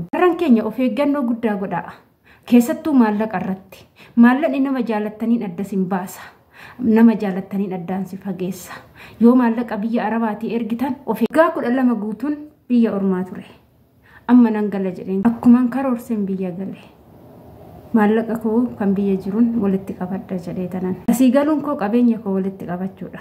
Warran keenya of eeggannoo guddaa godhaa. Keessattuu maallaqa irratti. Maallaqni nama jaalattaniin adda sin baasa. Nama jaalattaniin addaan si fageessa. Yoo maallaqa biyya Arabaatii ergitan of eeggaa kudha lama guutuun biyya ormaa ture. Amma nan gala jedheen akkuman karoorseen biyya gale. Maallaqa koo kan biyya jiruun walitti qabadha jedhee tanan. Asii galuun koo qabeenya koo walitti qabachuudha.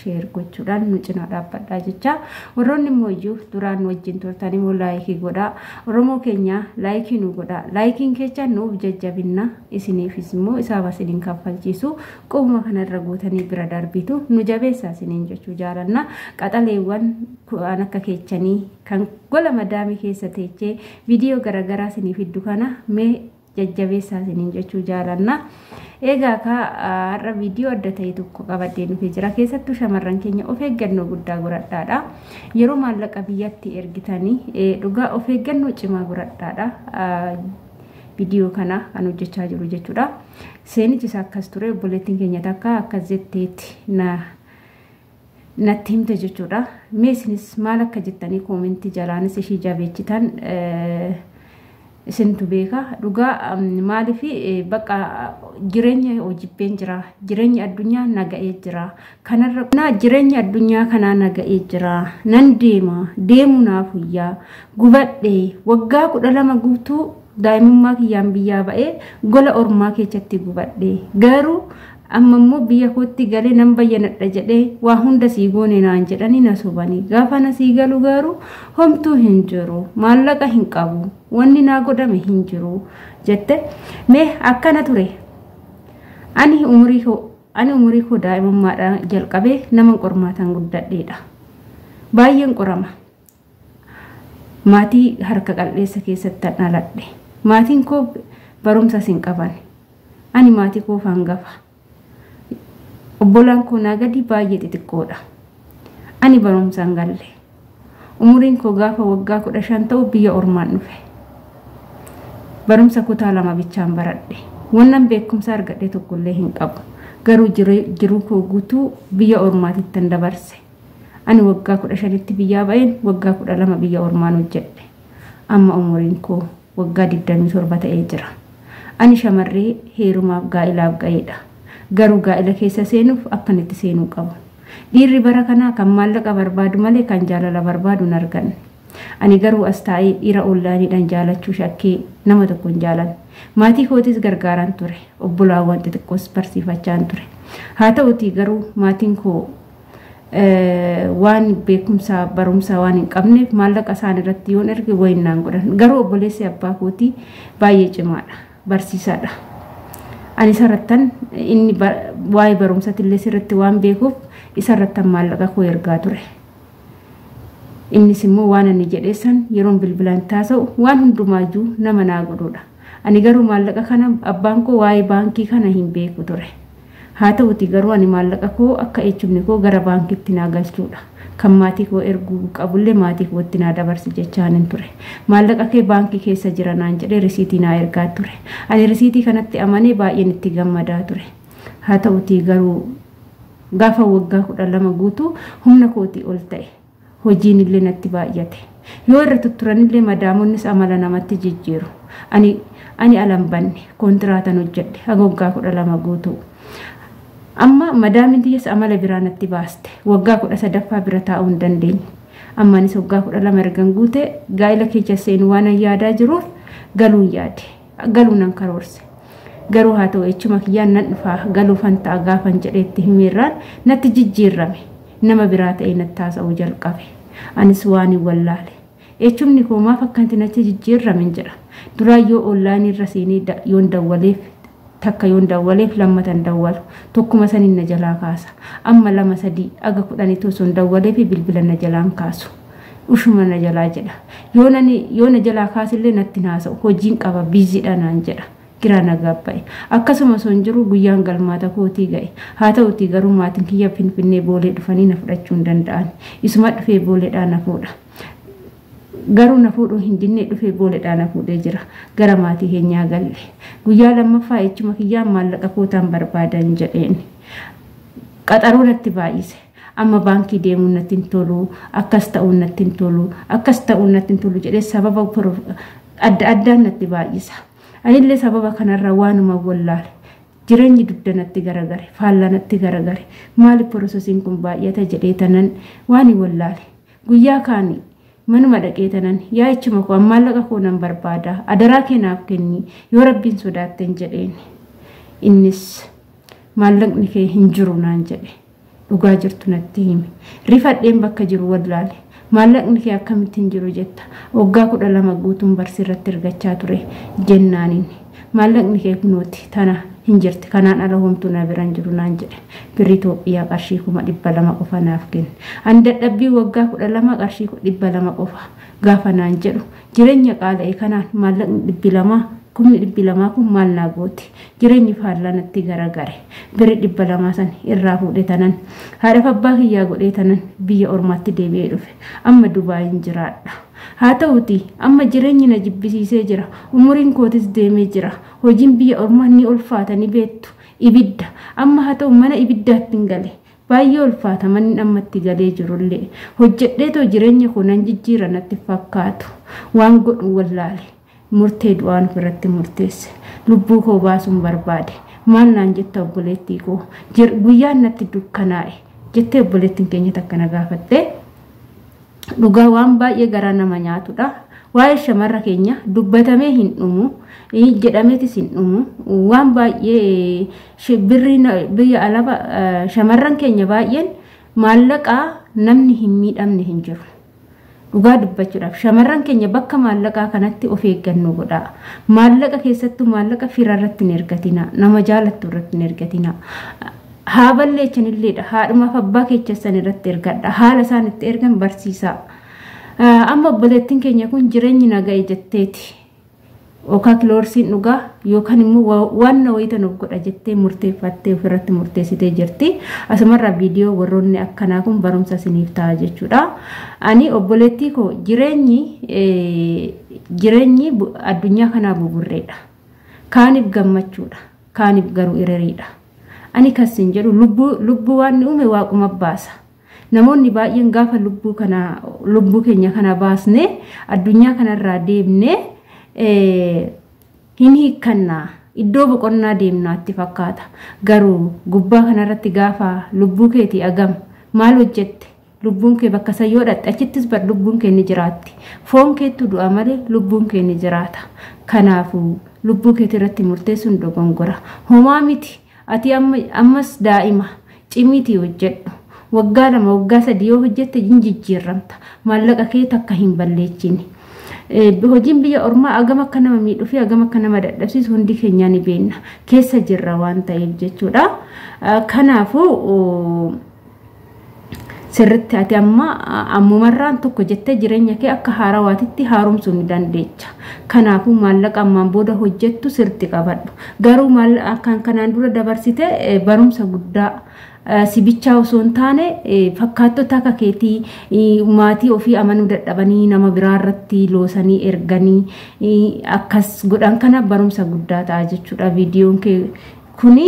sheer gochuudhaan nu cinaa dhaabbadhaa jechaa warroonni immoo iyyuu duraan nu wajjin turtan immoo laayikii godhaa oromoo keenyaa laayikii nu godhaa laayikiin keechaan nuuf jajjabinna isiniifis immoo isaaf isiniin kaffalchiisu qubuma kanarra guutanii bira darbitu nu jabeessaa isiniin jechuu jaalanna qaxaleewwan ku'aan akka keechanii kan gola madaamii keessa teechee viidiyoo garaagaraa isiniif hiddu kana mee jajjabeessaa isiniin jechuu jaalanna. Egaa kaa har'a viidiyoo adda ta'e tokko qabadhee dhufee jira. Keessattuu shamarran keenya of eeggannoo guddaa godhadhaadha. Yeroo maallaqa biyyatti ergitanii dhugaa of eeggannoo cimaa godhadhaadha. Viidiyoo kana kan hojjechaa jiru jechuudha. Seenichis akkas ture obboleettiin keenya takka akkas jetteetti na natti himte jechuudha. Mee isinis maal akka jettanii koomentii jalaanis ishii jabeechitan isintu beeka. Dhugaa maaliif bakka jireenya hojibbeen jira. Jireenya addunyaa naga'ee jira. Kanarra naa jireenya addunyaa kanaa naga'ee jira. Nan deema deemu naaf huyyaa gubadhee waggaa kudha lama guutuu Daa'imummaa kiyyaan biyyaa ba'ee gola ormaa keessatti gubadhe. Garuu amma immoo biyya kootti galee nan bayyanadha jedhee waa hunda sii goone naan jedhanii na sobanii. Gaafa na sii galu garuu homtuu hin jiru. Maallaqa hin qabu. Wanni naa godhame hin jiru jette. Mee akkana ture. Ani umurii koo ani umurii koo daa'imummaadhaan jalqabee naman qormaataan guddadheedha. Baay'een qorama. Maatii harka qal'eessa keessattan dhaladhe. Maatiin koo barumsas hin qaban. Ani maatii koof hangafa. Obbolaan koo naa gadii baay'ee xixiqqoodha. Ani barumsa hin galle. Umuriin koo gaafa waggaa kudha shan ta'u biyya ormaan dhufe. Barumsa kutaa lama bichaan baradhe. Wannan beekumsa argadhe tokkollee hin qabu. Garuu jiruu koo guutuu biyya ormaatittan dabarse. Ani waggaa 15tti biyyaa ba'een waggaa 12 biyya ormaan hojjedhe. Amma umuriin koo waggaa 27 ta'ee jira. Ani shamarree heerumaaf gaa'ilaaf ga'eedha. Garuu gaa'ila keessa seenuuf akkan itti seenuu qabu. Dhiirri bara kanaa kan maallaqa barbaadu malee kan jaalala barbaadu hin arganne. Ani garuu as taa'ee dhiira oonlaayiniidhaan jaalachuu shakkee nama tokko hin jaalanne. Maatii kootis gargaaraan ture. Obbolaawwan xixiqqoos barsiifachaan ture. Haa ta'utii garuu maatiin koo waan beekumsaa barumsaa waan hin qabneef maallaqa isaan irratti yoon erge wayin naan godhan garuu obboleessi abbaa kootii baay'ee cimaadha barsiisaadha ani isarrattan inni waa'ee barumsatillee sirratti waan beekuuf isarrattan maallaqa koo ergaa ture innis immoo waan ani jedheessan yeroon bilbilaan taasa'u waan hundumaayyuu nama naa godhuudha ani garuu maallaqa kana abbaan koo waa'ee baankii kana hin beeku ture Haa ta'uutii garuu ani maallaqa koo akka eechumni koo gara baankiitti naa galchuudha. Kan maatii koo erguu qabullee maatii kootti naa dabarsi jechaanin ture. Maallaqa kee baankii keessa jira naan jedhee risiitii naa ergaa ture. Ani risiitii kanatti amanee baay'een itti gammadaa ture. Haa ta'uutii garuu gaafa waggaa 12 guutu humna kootii ol ta'e. Hojiinillee natti baay'ate. Yoo irra tutturanillee madaamonnis amala namatti jijjiiru. Ani ani ala hin banne. Kontiraatan hojjedhe. Haga waggaa kudha lama guutuu. Amma madaamiin tiyyas amala biraa natti baaste. Waggaa kudha sadaffaa bira taa'uu hin dandeenye. Amma anis waggaa kudha lama ergan guute gaa'ila keessa seenu waanan yaadaa jiruuf galuun yaade. galuu nan karoorse. Garuu haa ta'u echuma kiyyaan nan dhufaa galuufan ta'a gaafan jedheetti himeerraan natti jijjiirrame. Nama biraa ta'ee natti haasa'uu jalqabe. Anis waan hin wallaale. Echumni koo maaf akkanti natti jijjiirrame hin jedha. Duraa yoo onlaayinii irra seenee yoon dawwaleef takka yoon dawwaleef lammatan dawwalu tokkuma saniin na jalaa kaasa. Amma lama sadii aga kudhanitu sun dawwalee fi bilbila na jalaan kaasu. Ushuma na jalaa jedha. Yoo nani yoo na jalaa kaasillee natti hin haasa'u. Hojiin qaba biiziidha naan jedha. Giraa na gaabba'e. Akkasuma osoo hin jiru guyyaan galmaata kootii ga'e. Haa ta'utii garuu maatiin kiyya Finfinnee Boolee dhufanii na fudhachuu hin danda'an. Isuma dhufee Booleedhaa na fuudha. Garuu na fuudhuu hin dinnee dhufee Booleedhaa na fuudhee jira. Gara maatii keenyaa galle. Guyyaa lammaffaa echuma kiyyaan maallaqa kootaan barbaadan jedheen. Qaxaroo natti baay'ise. Amma baankii deemuun natti hin tolu, akkas ta'uun natti hin tolu, akkas ta'uun natti hin tolu jedhee sababa adda addaan natti baay'isa. Anillee sababa kanarraa waanuma wallaale. Jireenyi dugda natti garagare, faallaa natti garagare. Maali porosesiin kun baay'ata jedhee tanan waani wallaale. Guyyaa kaani manuma dhaqee tanan yaa ichuma koo maallaqa koo nan barbaada adaraa kee naaf kenni yoo rabbiin sodaatten jedheen. Innis maallaqni kee hin jiru naan jedhe. dhugaa jirtu natti himi. Rifadheen bakka jiru wallaale. Maallaqni kee akkamitti hin jiru jetta? Waggaa kudha lama guutuun barsi irratti ergachaa ture jennaan inni. Maallaqni kee kunooti tana hin jirti kanaan ala homtuu na bira hin jiru naan jedhe. Birri Itoophiyaa qarshii kuma dhibba lama qofa naaf kenne. Ani dadhabbii waggaa kudha lama qarshii dhibba lama qofa gaafa naan jedhu Jireenya qaala'e kanaan maallaqni dhibbi lamaa kumni dhibbi lamaa kun maal naa goote jireenyi faallaa natti garagare birri dhibba lamaa san irraa fuudhe tanan haadhaf abbaa kiyyaa godhee tanan biyya ormaatti deebi'ee dhufe amma dubaayin jiraadha haa ta'uti amma jireenyi na jibbisiisee jira umuriin kootis deemee jira hojiin biyya ormaa ni ulfaata ni beettu ibidda amma haa ta'u mana ibiddaattin gale Baay'ee ulfaata manni amma itti galee jirullee. Hojjedheetoo jireenya koo nan jijjiira natti hin fakkaatu. Waan godhu wallaale. Murtee du'aan ofirratti murteesse. Lubbuu koo baasuun barbaade. Maal naan jetta obboleettii koo? Guyyaan natti dukkanaa'e. Jettee obboleettiin keenya takka na gaafattee. Dhugaa waan baay'ee garaa nama nyaatudha. Waa'ee shamarra keenya dubbatamee hin dhumu, jedhameetis hin dhumu. Waan baay'ee biyya alaba shamarran keenya baay'een maallaqaa namni hin miidhamne hin jiru. Dhugaa dubbachuudhaaf shamarran keenya bakka maallaqaa kanatti of eeggannoo godhaa. Maallaqa keessattuu maallaqa fira irratti hin ergatinaa. Nama jaalattu irratti hin ergatinaa. Haa balleechan illee dha. Haadhumaaf abbaa keechan san irratti ergadha. Haala isaan itti ergan barsiisaa. Amma obboleettiin keenya kun jireenyi naga'e jetteeti. Okaa kiloorsiin dhugaa yookaan immoo waan na wayita nuuf godha jettee murteeffattee ofirratti murteessitee jirti. Asumarraa viidiyoo warroonni akkanaa kun barumsa isiniif ta'a jechuudha. Ani obboleettii koo jireenyi jireenyi addunyaa kanaa buburreedha. Kaaniif gammachuudha. kaanif garu ireriidha. Ani kan sin jedhu lubbuu lubbuu waan ni uume waaquma baasa. Namoonni baay'een gaafa lubbuu kana lubbuu keenya kana baasne addunyaa kanarraa deemne hin hiikkanna iddoo boqonnaa deemnaatti fakkaata. Garuu gubbaa kanarratti gaafa lubbuu keetii agam maal hojjette Lubbuun kee bakka san yoo dhaqxe achittis bar lubbuun kee ni jiraatti. Foon keettu du'a malee lubbuun kee ni jiraata. Kanaafu lubbuu keetii irratti murteessuun dogongora. Homaa miti ati amma ammas daa'ima cimiitii hojjedhu. Waggaa lama waggaa sadii yoo hojjette hin jijjiirramta. Maallaqa kee takka hin balleechini. Hojiin biyya ormaa agam akka nama miidhuu fi agam akka nama dadhabsiisu hundi keenyaa ni beenna. Keessa jirra waan ta'eef jechuudha. Kanaafuu sirritti ati amma ammumarraan tokko jettee jireenya kee akka haarawaatitti haaromsuu ni dandeecha. Kanaafuu maallaqa ammaan booda hojjettu sirritti qabadhu. Garuu kan kanaan dura dabarsite barumsa guddaa sibichaa osoo hin taane fakkaattota akka keetii maatii ofii amanuu dadhabanii nama biraa irratti loosanii erganii akkas godhan kana barumsa guddaa ta'a jechuudha viidiyoon kee Kuni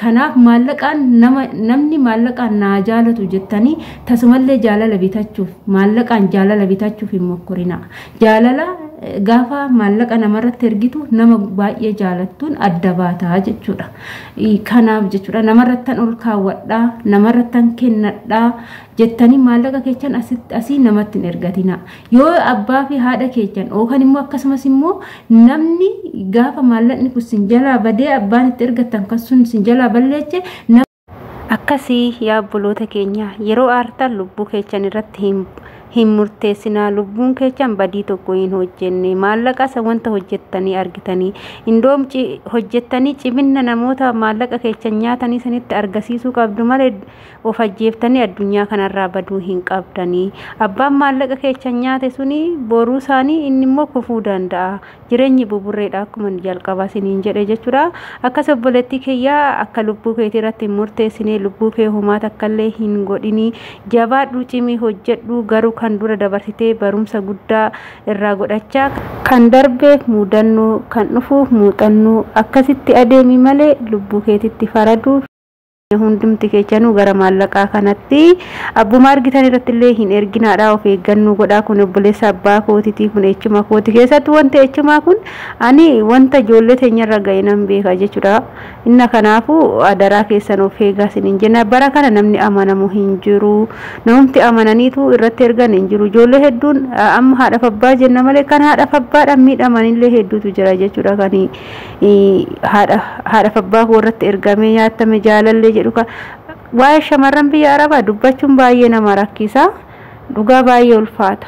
kanaaf maallaqaan nama namni maallaqaan naa jaalatu jettanii tasumallee jaalala bitachuuf maallaqaan jaalala bitachuuf hin mokkorinaa. Jaalala gaafa maallaqa namarratti ergitu nama baay'ee jaalattuun adda baataa jechuudha. Kanaaf jechuudha namarrattan ol kaawwadhaa namarrattan kennadhaa jettanii maallaqa kechan asitti asii namatti hin ergatinaa. Yoo abbaa fi haadha keessan yookaan immoo akkasumas immoo namni gaafa maallaqni kun sin jalaa badee abbaan itti ergattan kan sun sin jalaa balleeche akkasii yaa obboloota keenya yeroo aartan lubbuu keessan irratti hin hin murteessinaa lubbuun keessan badii tokko hin hojjenne maallaqa isa wanta hojjettanii argitanii indoom hojjettanii ciminna namoota maallaqa keessan nyaatanii sanitti argisiisuu qabdu malee of ajjeeftanii addunyaa kanarraa baduu hin qabdanii abbaan maallaqa keechan nyaate suni boruu isaanii inni immoo kufuu danda'a jireenyi buburreedha akkuma jalqabaa siniin jedhe jechuudha akkas obboleettii kiyyaa akka lubbuu keetii irratti murteessinee lubbuu kee homaa takkallee hin godhinii jabaadhuu cimii hojjedhuu garuu kan dura dabarsitee barumsa guddaa irraa godhachaa kan darbeef muudannoo kan dhufuuf muuxannoo akkasitti adeemi malee lubbuu keetitti faraduuf hundumti keechanuu gara maallaqaa kanatti abbuma argitan irratti illee hin erginaadha of eeggannoo godhaa kun obboleessa abbaa kootitii kun echuma kooti keessatti wanti echumaa kun ani wanta ijoollee teenyarra ga'e nan beeka jechuudha inna kanaafu adaraa keessan of eegaa sin hin jenna bara kana namni amanamu hin jiru namumti amananiitu irratti ergan hin jiru ijoollee hedduun amma haadhaaf abbaa jenna malee kan haadhaaf abbaadhaan miidhamanillee hedduutu jira jechuudha kanii haadhaf abbaa koo irratti ergamee nyaattame jaalallee jedhu ka waa'ee shamarran biyya arabaa dubbachuun baay'ee nama rakkisa dhugaa baay'ee ulfaata.